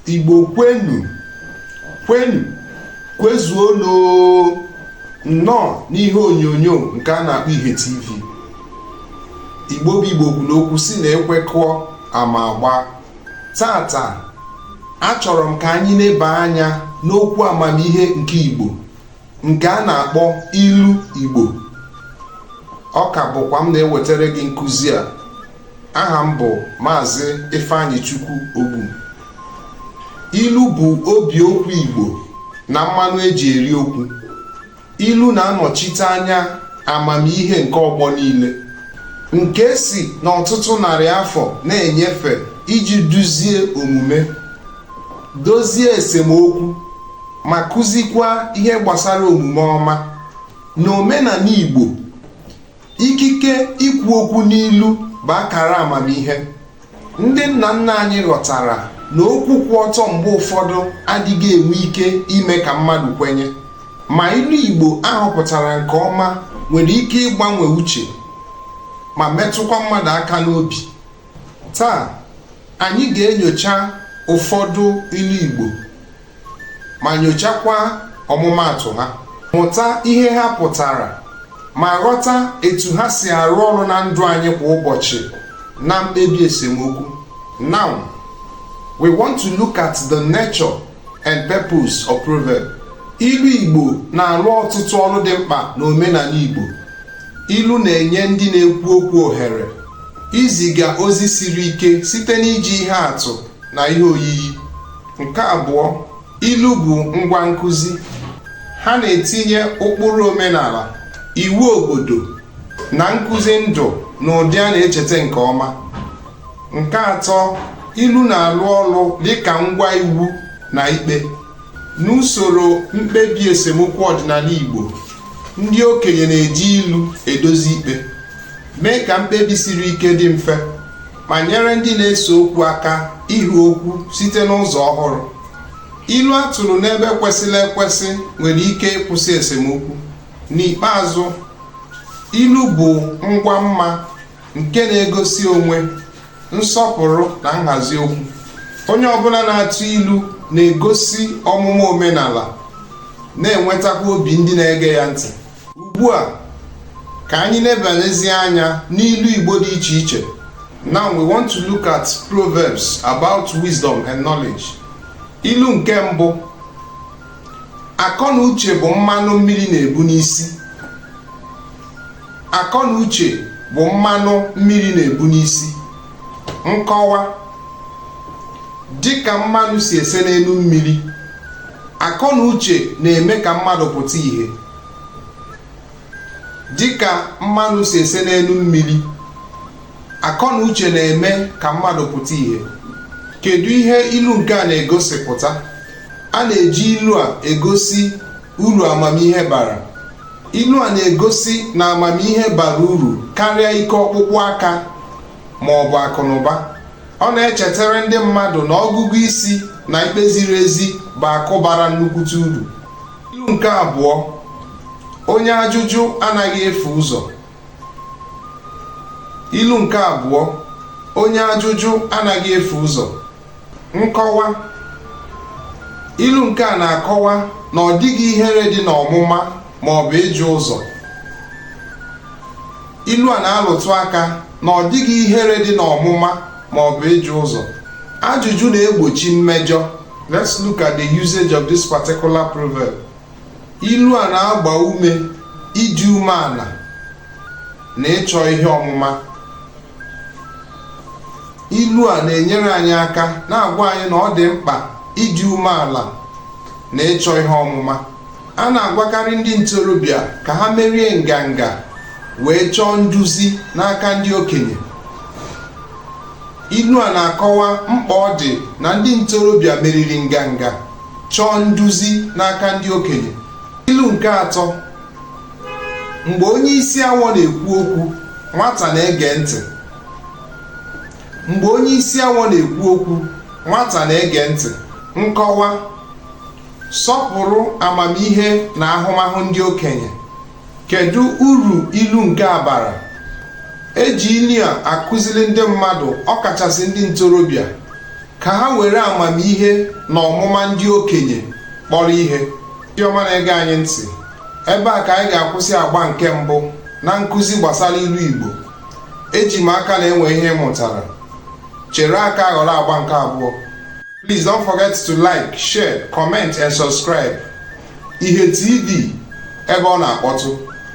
igbo kwenu kwenu kwezuonu nnọọ n'ihe onyonyo nke a na-akpọ ihe tv igbo bụ igbo kwuru okwu sị na ekwekọọ ama agba taata achọrọ m ka anyị leba anya n'okwu amamihe nke igbo nke a na-akpọ ilu igbo ọ ka bụkwa m na-ewetara gị nkụzi a aha m bụ maazị Ifeanyichukwu Ogbu ilu bụ obi okwu Igbo na mmanụ e ji eri okwu ilu na-anọchite anya amamihe nke ọgbọ niile nke e si n'ọtụtụ narị afọ na-enyefe iji duzie omume dozie esemokwu ma kụzikwa ihe gbasara omume ọma n'omenala Igbo ikike ikwu okwu n'ilu bụ akara amamihe ndị nna nna anyị ghọtara na okwu kwụ ọtọ mgbe ụfọdụ adịghị enwe ike ime ka mmadụ kwenye ma ilu Igbo a họpụtara nke ọma nwere ike ịgbanwe uche ma metụkwa mmadụ aka n'obi taa anyị ga-enyocha ụfọdụ ilu Igbo ma nyochakwa ọmụmaatụ ha mụta ihe ha pụtara ma ghọta etu ha si arụ ọrụ na ndụ anyị kwa ụbọchị na mkpebi esemokwu now we want to look at the nature and purpose of proverb ilu igbo na-arụ ọtụtụ ọrụ dị mkpa n'omenala igbo ilu na-enye ndị na-ekwu okwu ohere iziga ozi siri ike site n'iji ihe atụ na ihe oyiyi nke abụọ ilu bụ ngwa nkụzi ha na-etinye ụkpụrụ omenala iwu obodo na nkụzi ndụ n'ụdị a na-echeta nke ọma nke atọ ilu na-alụ ọlụ dịka ngwa iwu na ikpe n'usoro mkpebi esemokwu ọdịnala Igbo ndị okenye na-eji ilu edozi ikpe mee ka mkpebi siri ike dị mfe ma nyere ndị na-ese okwu aka ịhụ okwu site n'ụzọ ọhụrụ ilu a tụrụ n'ebe kwesịrị ekwesị nwere ike ịkwụsị esemokwu n'ikpeazụ ilu bụ ngwa mma nke na-egosi onwe nsọpụrụ na nhazi okwu onye ọbụla na-atụ ilu na-egosi ọmụma omenala na-enwetakwa obi ndị na-ege ya ntị ugbu a ka anyị nebanyezie anya n'ilu Igbo dị iche iche now we want to look at proverbs about wisdom and knowledge ilu nke mbụ akọ na uche bụ mmanụ mmiri na-ebu n'isi akọ na uche bụ mmanụ mmiri na-ebu n'isi nkọwa dịka mmanụ si ese n'elu mmiri akọ na uche na-eme ka mmadụ pụta ìhè dịka mmanụ si ese n'elu mmiri akọ na uche na-eme ka mmadụ pụta ìhè kedu ihe ilu nke a na-egosipụta a na-eji ilu a egosi uru amamihe bara ilu a na-egosi na amamihe bara uru karịa ike ọkpụkpụ aka ma ọ bụ akụnụba ọ na-echetara ndị mmadụ na ọgụgụ isi na ikpe ziri ezi bụ akụ bara nnukwute uru ilu nke abụọ onye ajụjụ anaghị efu ụzọ ilu nke abụọ onye ajụjụ anaghị efu ụzọ nkọwa ilu nke a na-akọwa na ọ dịghị ihere dị n'ọmụma ma ọ bụ ịjụ ụzọ ilu a na-alụtụ aka na ọ dịghị ihere dị n'ọmụma ma ọ bụ ịjụ ụzọ ajụjụ na-egbochi mmejọ let's look at the usage of this particular proverb ilu a na-agba ume ịdị umeala na ịchọ ihe ọmụma ilu a na-enyere anyị aka na-agwa anyị na ọ dị mkpa ịdị umeala na ịchọ ihe ọmụma a na-agwakarị ndị ntorobịa ka ha merie nganga wee chọọ nduzi n'aka ndị okenye ilu a na-akọwa mkpa ọ dị na ndị ntorobịa meriri nganga chọọ nduzi n'aka ndị okenye ilu nke atọ mgbe onye isi awọ na-ekwu okwu nwata na-ege ntị mgbe onye isi awọ na-ekwu okwu nwata na-ege ntị nkọwa sọpụrụ amamihe na ahụmahụ ndị okenye kedu uru ilu nke a bara e ji ilu a akụziri ndị mmadụ ọkachasị ndị ntorobịa ka ha were amamihe na ọmụma ndị okenye kpọrọ ihe ndị ọma na-ege anyị ntị ebe a ka anyị ga-akwụsị agba nke mbụ na nkụzi gbasara ilu Igbo eji m aka na e nwere ihe ị mụtara chere aka ghọrọ agba nke abụọ please don't forget to like share comment and subscribe ihe tv ebe ọ na-akpọtụ